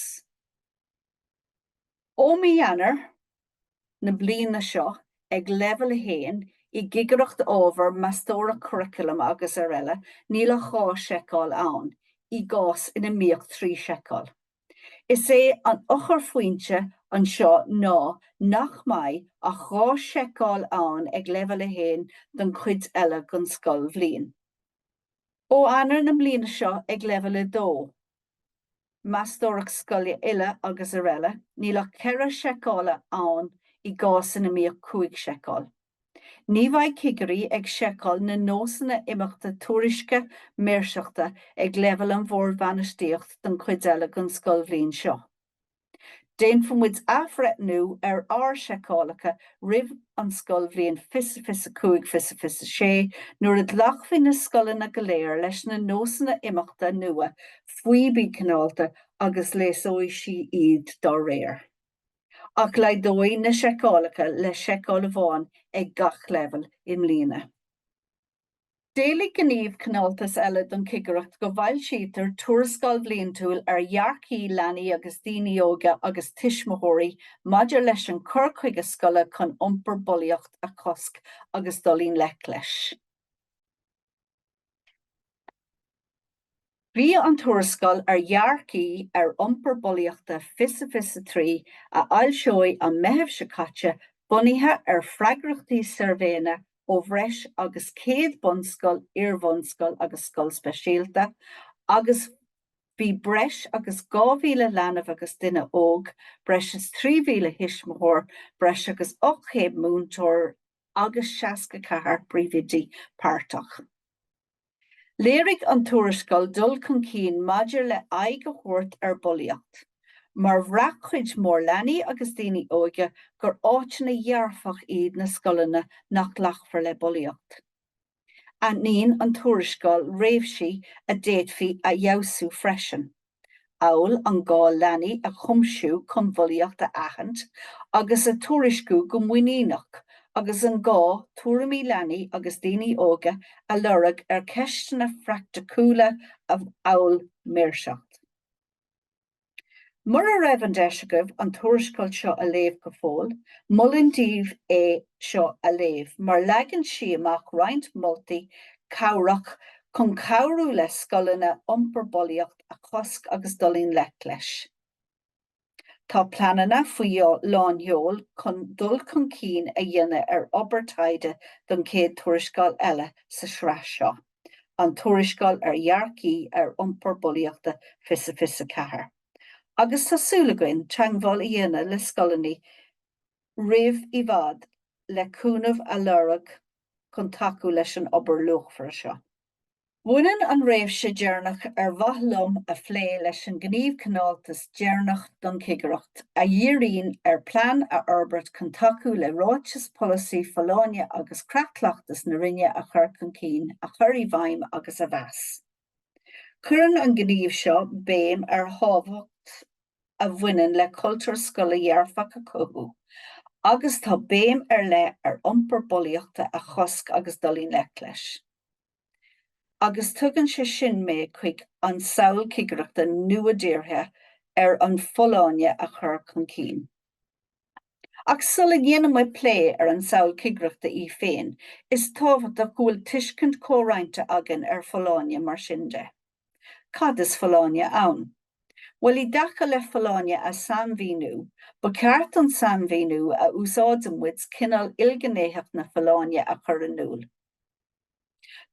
Ó mhí Eanáir na bliana seo, ag Leibhéal 1 i gCigireacht Ábhar, Meastóireacht Curriculum agus araile, níl ach dhá sheiceáil ann, i gcás ina mbíodh trí sheiceáil. Is é an eochairphointe anseo ná nach mbeidh ach dhá sheiceáil ann ag Leibhéal 1 don chuid eile den scoilbhliain. Ó Eanáir na bliana seo, ag Leibhéal 2. meastóireacht scoile uile agus araile, níl ach ceithre seiceála ann i gcás ina mbíodh cúig seiceáil. Ní bheidh cigirí ag seiceáil na nósanna imeachta tuairisce maoirseachta ag leibhéal an bhoird bhainistíocht don chuid eile den scoilbhliain seo. Déanfaimid athbhreithniú ar ár seiceálacha roimh an scoilbhliain fiche fiche 5 fiche fiche 6 nuair a ghlacfaidh na scoileanna go léir leis na nósanna imeachta nua faoi Bí Cineálta agus leasóidh sí iad dá réir. Ach laghdaíodh na seiceálacha le seiceáil amháin ag gach leibhéal i mbliana. D'éiligh Gníomh Cineáltais eile don Chigireacht go bhfoilsítear tuarascáil bhliantúil ar dhearcaí leanaí agus daoine óga agus tuismitheoirí maidir leis an chur chuige scoile chun iompar bulaíocht a chosc agus dul i ngleic leis. Bhí an tuarascáil ar dhearcaí ar iompar bulaíochta fiche fiche 3, a foilsíodh an Meitheamh seo caite, bunaithe ar freagrachtaí suirbhé ó bhreis agus 100 bunscoil, iar-bhunscoil agus scoil speisialta agus bhí breis agus 2,000 leanbh agus duine óg, breis is 3,000 thuismitheoir, breis agus 800 múinteoir agus 64 príomhoidí páirteach. Léirigh an tuarascáil dul chun cinn maidir le aghaidh a thabhairt ar bhulaíocht, mar bhraith cuid mhór leanaí agus daoine óga gur áiteanna dhearfach iad na scoileanna nach nglacfar le bulaíocht. Aithníonn an tuarascáil réimhsí a d'fhéadfaí a fheabhsú freisin. amhail an gá leanaí a chumasú chun bulaíocht a aithint agus a tuairisciú go muiníneach agus an gá tuairimí leanaí agus daoine óga a lorg ar cheisteanna phraiticiúla amhail maoirseacht. Mura raibh an deis agaibh an tuarascáil seo a léamh go fóill, molaim daoibh é seo a léamh mar leagann sí amach roinnt moltaí cabhrach chun cabhrú le scoileanna iompar bulaíocht a chosc agus dul i ngleic leis. Tá pleananna faoi lánsheol chun dul chun cinn a dhéanamh ar obair taighde don chéad tuarascáil eile sa tsraith seo, an tuarascáil ar dhearcaí ar iompar bulaíochta fiche fiche ceathair, agus tá súil againn teagmháil a dhéanamh le scoileanna roimh i bhfad le cúnamh a lorg chun tacú leis an obair luachmhar seo. Baineann an réimse deireanach ar mhaith liom a phlé leis an Gníomh Cineáltas deireanach don Chigireacht, a dhíríonn ar plean a fhorbairt chun tacú le Ráiteas Polasaí Folláine agus Creat Cleachtais na Roinne a chur chun cinn, a chur i bhfeidhm agus a mheas. Cuireann an gníomh seo béim ar thábhacht a bhaineann le cultúr scoile dhearfach a chothú agus tá béim ar leith ar iompar bulaíochta a chosc agus dul i ngleic leis. Agus tugann sé sin mé chuig an samhail cigireachta nua-deartha ar an bhfolláine a chur chun cinn. Ach sula ndéanann muid plé ar an samhail cigireachta í féin, is tábhachtach go bhfuil tuiscint chomhroinnte againn ar folláine, mar sin de. Cad is folláine ann? Bhuel, i dtaca le folláine a shainmhíniú, ba cheart an sainmhíniú a úsáideann muid, cineál ilghnéitheacht na folláine, a chur in iúl.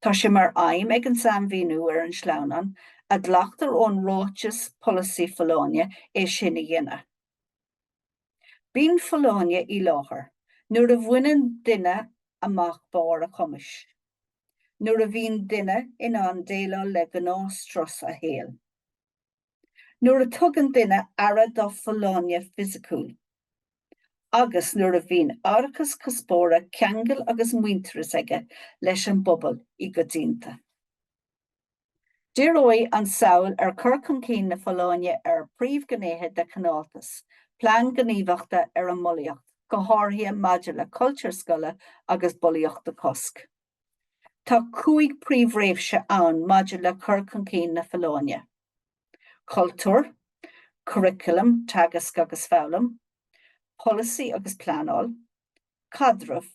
Tá sé mar aidhm ag an sainmhíniú ar an sleamhnán, a ghlactar ón ráiteas polasaí folláine, é sin a dhéanamh. Bíonn folláine i láthair nuair a bhaineann duine amach barr a chumais, nuair a bhíonn duine in ann déileáil le gnáthstrus a shaoil. Nuair a thugann duine aire dá folláine fisiciúil. Agus nuair a bhíonn árachas cuspóra, ceangail agus muintearas aige leis an bpobal i gcoitianta. Díreoidh an tsamhail ar chur chun cinn na folláine ar phríomhghnéithe de chineáltas, plean gníomhachta ar an mbulaíocht, go háirithe maidir le cultúr scoile agus bulaíocht a chosc. Tá cúig príomhréimse ann maidir le cur chun cinn na folláine, cultúr, curriculum, teagasc agus foghlaim, polasaí agus pleanáil, caidreamh,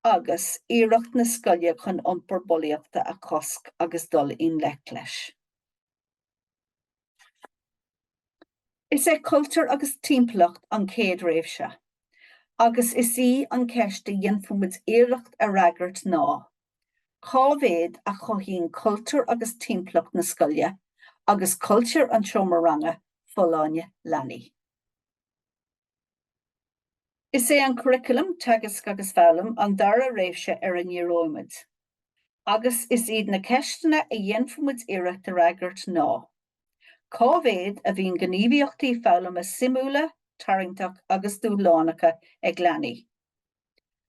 agus iarracht na scoile chun iompar bulaíochta a chosc agus dul i ngleic leis. Is é cultúr agus timpeallacht an chéad réimse, agus is í an cheist a dhéanfaimid iarracht a fhreagairt ná, cá mhéad a chothaíonn cultúr agus timpeallacht na scoile, agus cultúr an tseomra ranga, folláine leanaí? Is é an curriculum, teagasc agus foghlaim, an dara réimse ar a ndíreoimid, agus is iad na ceisteanna a dhéanfaimid iarracht a fhreagairt ná, Cá mhéad a bhíonn gníomhaíochtaí foghlama suimiúla, tarraingteach agus dúshlánacha ag leanaí?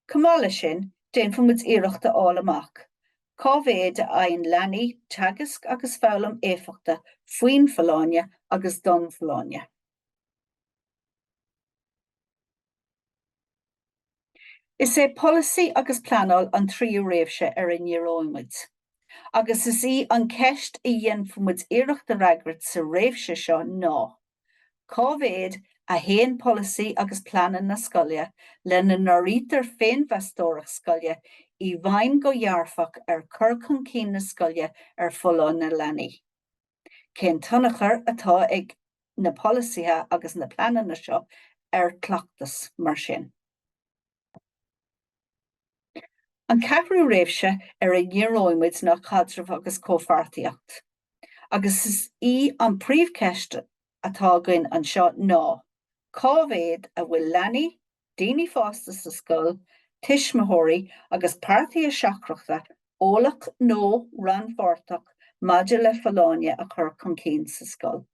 Chomh maith leis sin, déanfaimid iarracht a fháil amach, Cá mhéad a fhaigheann leanaí teagasc agus foghlaim éifeachta faoin bhfolláine agus don bhfolláine? Is é polasaí agus pleanáil an tríú réimhse ar a ndíreoidh muid, agus is í an cheist a dhéanfaimid iarracht a fhreagairt sa réimhse seo ná, cá mhéad a théann polasaí agus pleananna na scoile, lena n-áirítear féinmheastóireacht scoile, i bhfeidhm go dhearfach ar chur chun cinn na scoile ar folláine leanaí? Cén tionchar atá ag. na polasaithe agus na pleananna seo ar cleachtas mar sin. An ceathrú réimhse ar a ndíreoidh muid ná caidreamh agus comhpháirtíocht, agus is í an phríomhcheist atá againn anseo ná, cá mhéad a bhfuil leanaí, daoine fásta sa scoil, tuismitheoirí agus páirtithe seachtrachta eolach nó rannpháirteach maidir le folláine a chur chun cinn sa scoil.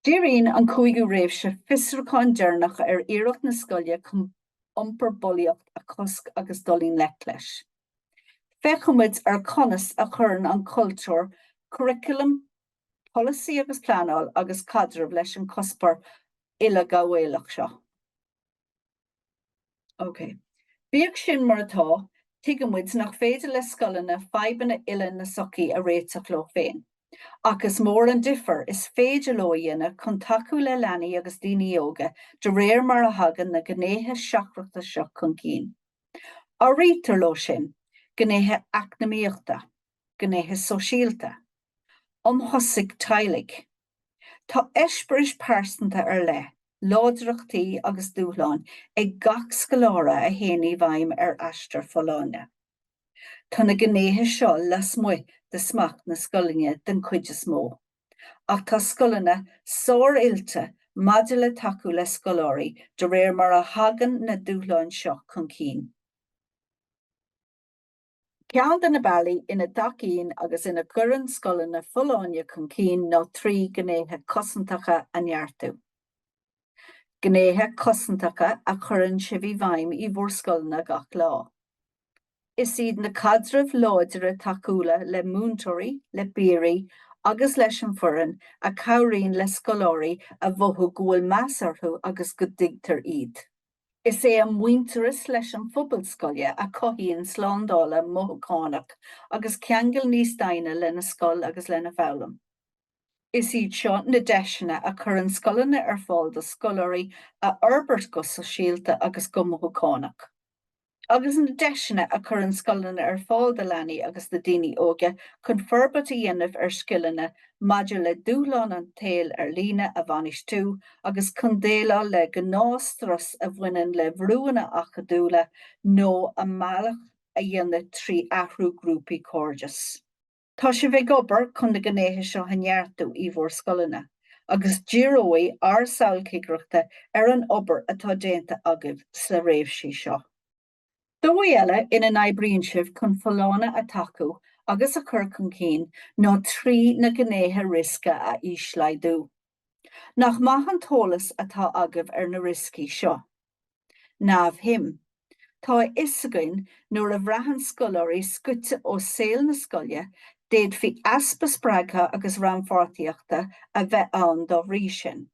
Díríonn an cúigiú réimhse fiosrúcháin deireanach ar iarracht na scoile chun iompar bulaíocht a chosc agus dul i ngleic leis. Féachfaimid ar conas a chuireann an cultúr, curaclam, polasaí agus pleanáil agus caidreamh leis an cuspóir uileghabhálach seo. OK. Bíodh sin mar atá, tuigimid nach féidir le scoileanna fadhbanna uile na sochaí a réiteach leo féin. Ach is mór an difear is féidir leo a dhéanamh chun tacú le leanaí agus daoine óga de réir mar a thagann na gnéithe seachtrachta seo chun cinn. Áirítear leo sin gnéithe eacnamaíochta, gnéithe sóisialta, um thosca teaghlaigh. Tá eispéiris pearsanta ar leith, láidreachtaí agus dúshláin ag gach scoláire a théann i bhfeidhm ar a n-aistear folláine. Tá na gnéithe seo lasmuigh de smacht na scoileanna den chuid is mó, ach tá scoileanna sár-oilte maidir le tacú le scoláirí de réir mar a thagann na dúshláin seo chun cinn. Ceann de na bealaí ina dtacaíonn agus ina gcuireann scoileanna folláine chun cinn ná trí ghnéithe cosantacha a neartú. Gnéithe cosantacha a chuireann sibh i bhfeidhm i bhur scoileanna gach lá. Is iad na caidrimh láidre tacúla le múinteoirí, le piaraí agus leis an bhfoireann a chabhraíonn le scoláirí a mhothú go bhfuil meas orthu agus go dtuigtear iad. Is é an muintearas leis an phobal scoile a chothaíonn slándála mothúchánach agus ceangal níos doimhne lena scoil agus lena foghlaim. Is iad seo na deiseanna a chuireann scoileanna ar fáil do scoláirí a fhorbairt go sóisialta agus go mothúchánach. agus na deiseanna a chuireann scoileanna ar fáil do leanaí agus do dhaoine óga chun forbairt a dhéanamh ar scileanna maidir le dúshlán an tsaoil ar líne a bhainistiú agus chun déileáil le gnáthstrus a bhaineann le brúanna acadúla nó a mbealach a dhéanamh trí athrú grúpaí cairdis. Tá sibh ag obair chun na gnéithe seo a neartú í bhur scoileanna agus díreoidh ár samhail cigireachta ar an obair atá déanta agaibh sna réimsí seo. Dóigh eile ina n-oibríonn sibh chun folláine a tacú agus a chur chun cinn ná trí na gnéithe riosca a íoslaghdú. Nach maith an t-eolas atá agaibh ar na rioscaí seo. Niamh Hm. Tá a fhios againn nuair a bhraitheann scoláirí scoite ó saol na scoile d'fhéadfaí easpa spreagtha agus rannpháirtíochta a bheith ann dá bhrí sin.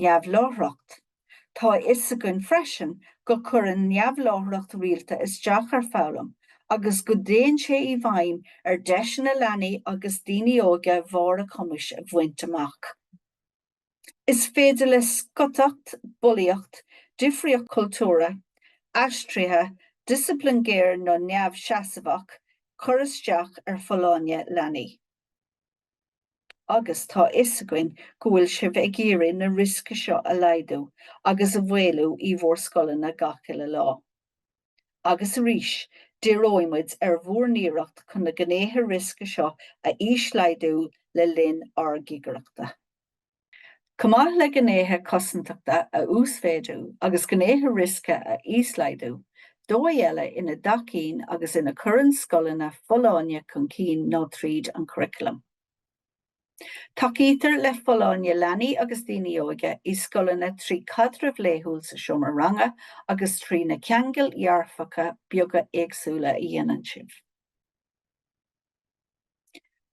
Neamhláithreacht. Tá a fhios againn freisin go cuireann neamhláithreacht rialta isteach ar foghlaim agus go dtéann sé i bhfeidhm ar deiseanna leanaí agus daoine óga barr a cumais a bhaint amach. Is féidir le scoiteacht, bulaíocht, difríocht cultúrtha, aistrithe, disciplin géar nó neamhsheasmhach cur isteach ar folláine leanaí. Agus tá a fhios againn go bhfuil sibh ag iarraidh na riosca seo a laghdú agus a mhaolú í bhur scoileanna gach uile lá. Agus arís, díreoidh muid ar bhur n-iarracht chun na gnéithe riosca seo a íoslaghdú le linn ár gcigireachta. Chomh maith le gnéithe cosantachta a uasmhéadú agus gnéithe riosca a íoslaghdú, dóigh eile ina dtacaíonn agus ina gcuireann scoileanna folláine chun cinn ná tríd an churaclam. Tacaítear le folláine leanaí agus daoine óga i scoileanna trí chaidreamh laethúil sa seomra ranga agus trí na ceangail dhearfacha beaga éagsúla a dhéanann sibh.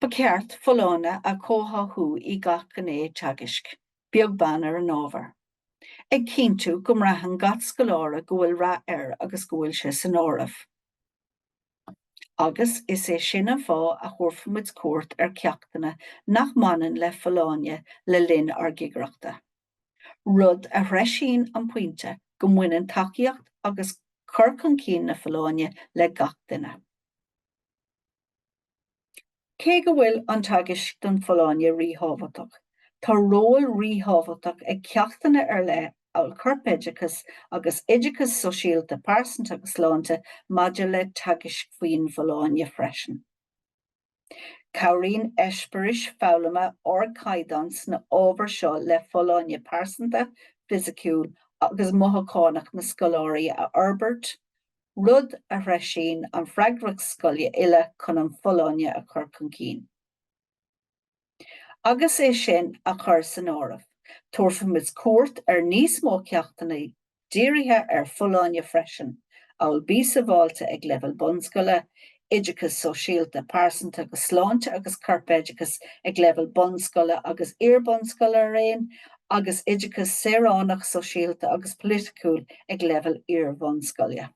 Ba cheart folláine a chomhtháthú i gach gné teagaisc, beag beann ar an ábhar, ag cinntiú go mbraitheann gach scoláire go bhfuil rath air agus go bhfuil sé san áireamh. agus is é sin an fáth a thabharfaimid cuairt ar cheachtanna nach mbaineann le folláine le linn ár gcigireachta, rud a threisíonn an pointe go mbaineann tacaíocht agus cur chun cinn na folláine le gach duine. Cé go bhfuil an teagasc don Folláine ríthábhachtach, tá ról ríthábhachtach ag ceachtanna ar leith amhail Corpoideachas agus Oideachas Sóisialta, Pearsanta agus Sláinte maidir le teagasc faoin bhfolláine freisin. Cabhraíonn eispéiris foghlama ardchaighdeáin sna hábhair seo le folláine pearsanta, fisiciúil agus mothúchánach na scoláirí a fhorbairt, rud a threisíonn an freagracht scoile uile chun an folláine a chur chun cinn. Agus é sin á chur san áireamh, tabharfaimid cuairt ar níos mó ceachtanna dírithe ar folláine freisin, amhail Bí Sabháilte ag Leibhéal Bunscoile, oideachas sóisialta, pearsanta agus sláinte agus corpoideachas ag leibhéal bunscoile agus iar-bhunscoile araon agus oideachas saoránach, sóisialta agus polaitiúil ag leibhéal iar-bhunscoile.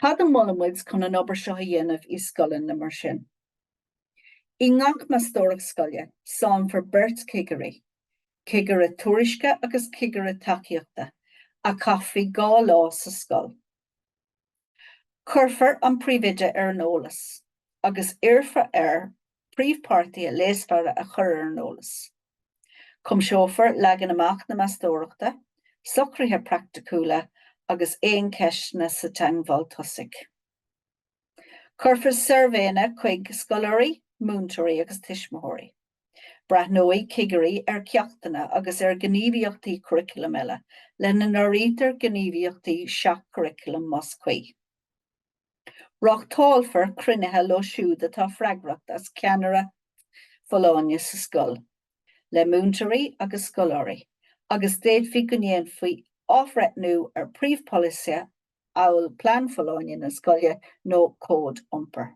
Cad a mholann muid chun an obair seo a dhéanamh i scoileanna mar sin? I ngach meastóireacht scoile, sannfar beirt chigirí, cigire tuairisce agus cigire tacaíochta, a chaithfidh dhá lá sa scoil. Cuirfear an príomhoide ar an eolas agus iarrfar air príomhpháirtithe leasmhara a chur ar an eolas. Cuimseofar leagan amach na meastóireachta, socruithe praiticiúla agus aon cheisteanna sa teagmháil tosaigh. Cuirfear suirbhéanna chuig scoláirí, múinteoirí agus tuismitheoirí. Breathnóidh cigirí ar cheachtanna agus ar ghníomhaíochtaí curaclaim eile, lena n-áirítear gníomhaíochtaí seach-churaclaim más cuí. Reáchtálfar cruinnithe leo siúd atá freagrach as ceannaireacht folláine sa scoil, le múinteoirí agus scoláirí, agus d'fhéadfaí go ndéanfaí athbhreithniú ar phríomhpholasaithe amhail plean folláine na scoile nó cód iompair.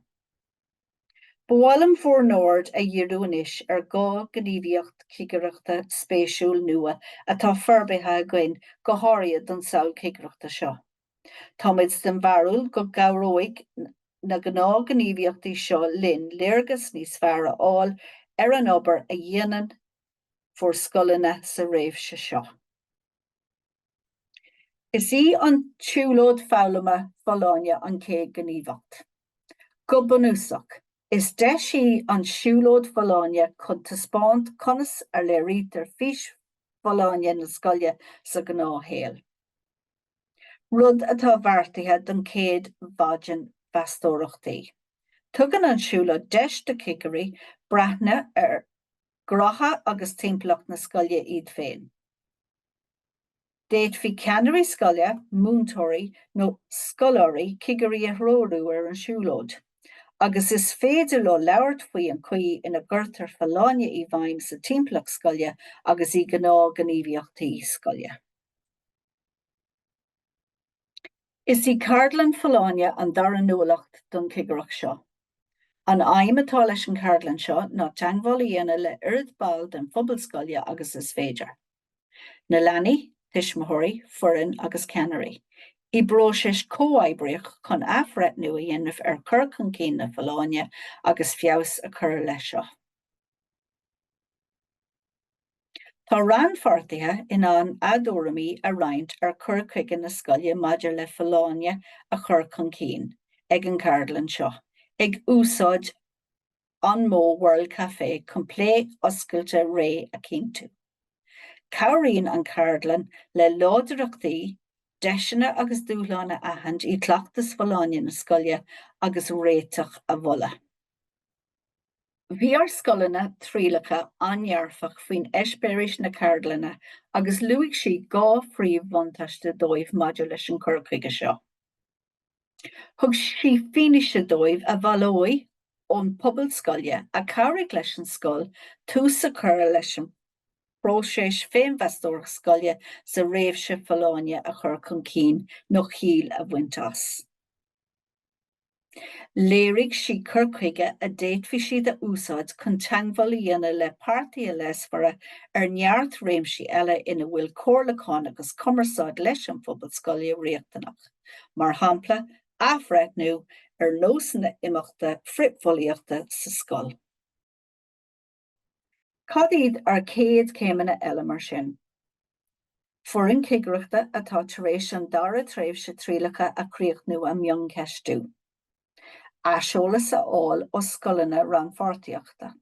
Ba mhaith liom bhur n-aird a dhíriú anois ar dhá ghníomhaíocht chigireachta spéisiúil nua atá forbartha againn go háirithe don samhail chigireachta seo. Táimid den bharúil go gcabhróidh na gnáthghníomhaíochtaí seo linn léargas níos fearr a fháil ar an obair a dhéanann bhur scoileanna sa réimhse seo. Is í an siúlóid foghlama folláine an chéad ghníomhaíocht. Go bunúsach, is deis í an siúlóid folláine chun taispeáint conas a léirítear fís folláine na scoile sa ghnáthshaol, rud atá beartaithe don chéad mhaidin mheastóireachtaí. Tugann an siúlóid deis do chigirí breathnú ar ghnátha agus timpeallacht na scoile iad féin. D'fhéadfaí ceannairí scoile, múinteoirí nó scoláirí, cigirí a threorú ar an siúlóid agus is féidir leo labhairt faoi an chaoi ina gcuirtear folláine i bhfeidhm sa timpeallacht scoile agus i gnáth-ghníomhaíochtaí scoile. Is í ceardlann Folláine an dara nuálacht don chigireacht seo. An aidhm atá leis an cheardlann seo ná teagmháil a dhéanamh le oiread ball den phobal scoile agus is féidir. Na leanaí, tuismitheoirí, foireann agus ceannairí. I bpróiseas comhoibríoch chun athbhreithniú a dhéanamh ar chur chun cinn na Folláine agus feabhas a chur leis seo. Tá rannpháirtithe in ann a dtuairimí a roinnt ar chur chuige na scoile maidir le folláine a chur chun cinn ag an gceardlann seo ag úsáid an modh World Café chun plé oscailte réidh a chinntiú. Cabhraíonn an cheardlann le láidreachtaí, deiseanna agus dúshláin a aithint i gcleachtas folláine na scoile agus réiteach a mholadh. Bhí ár scoileanna trialacha an-dearfach faoin eispéiris na ceardlainne agus luaigh sí dhá phríomh-bhuntáiste dóibh maidir leis an gcur chuige seo. Thug sí fianaise dóibh a bhaileoidh ón bpobal scoile a chabhraigh leis an scoil tús a chur leis an bpróiseas féinmheastóireacht scoile sa réimse folláine a chur chun cinn nó ciall a bhaint as. Léirigh sí cur chuige a d'fhéadfadh siad a úsáid chun teagmháil a dhéanamh le páirtithe leasmhara ar neart réimsí eile ina bhfuil comhairliúchán agus cumarsáid leis an phobal scoile riachtanach, mar shampla, athbhreithniú ar nósanna imeachta frithbhulaíochta sa scoil. Cad iad ár gcéad chéimeanna eile mar sin? Foireann Chigireachta atá tar éis an dara tréimhse trialacha a chríochnú a mhioncheistiú. Aiseolas a fháil ó scoileanna rannpháirtíochta.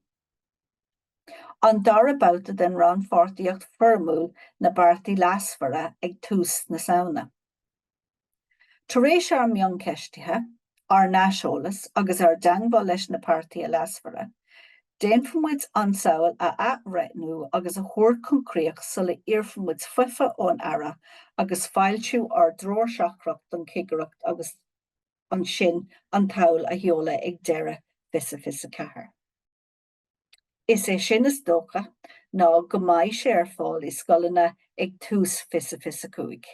An dara babhta den rannpháirtíocht foirmiúil na bpáirtithe leasmhara ag tús na Samhna. Tar éis ár mioncheistithe, ár n-aiseolas agus ár dteangmháil leis na páirtithe leasmhara, déanfaimid an tsamhail a athbhreithniú agus a thabhairt chun críoch sula iarrfaimid faomhadh ón Aire agus foilsiú ár dtreoir seachtrach don chigireacht agus ansin an tsamhail a sheoladh ag deireadh fiche fiche a ceathair. Is é sin is dócha ná go mbeidh sé ar fáil i scoileanna ag tús fiche fiche cúig.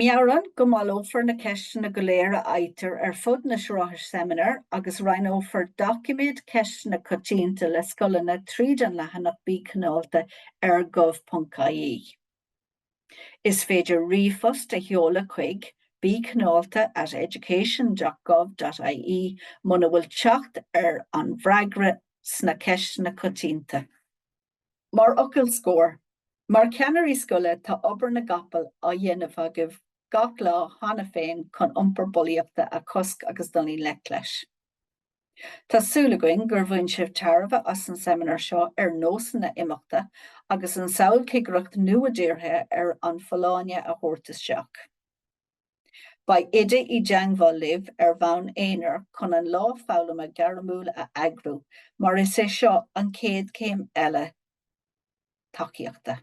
Meabhraigh go mbaileofar na ceisteanna go léir a fhaightear ar fud na sraithe seimineár agus roinnfear doiciméad Ceisteanna Coitianta le scoileanna tríd an leathanach Bí Cineálta ar gov.ie. Is féidir ríomhphost a sheoladh chuig, Bí cineálta at education.gov.ie, muna bhfuil teacht ar an bhfreagra sna Ceisteanna Coitianta. Mar fhocal scoir, Mar cheannairí scoile, tá obair na gcapall á dhéanamh agaibh gach lá cheana féin chun iompar bulaíochta a chosc agus dul i ngleic leis. Tá súil againn gur bhain sibh tairbhe as an seimineár seo ar nósanna imeachta agus an samhail cigireacht nua dírithe ar an folláine a thabhairt isteach. Beidh Oide i dteangmháil libh ar bhonn aonair chun an lá foghlama gairmiúil a eagrú mar is é seo an chéad chéim eile tacaíochta.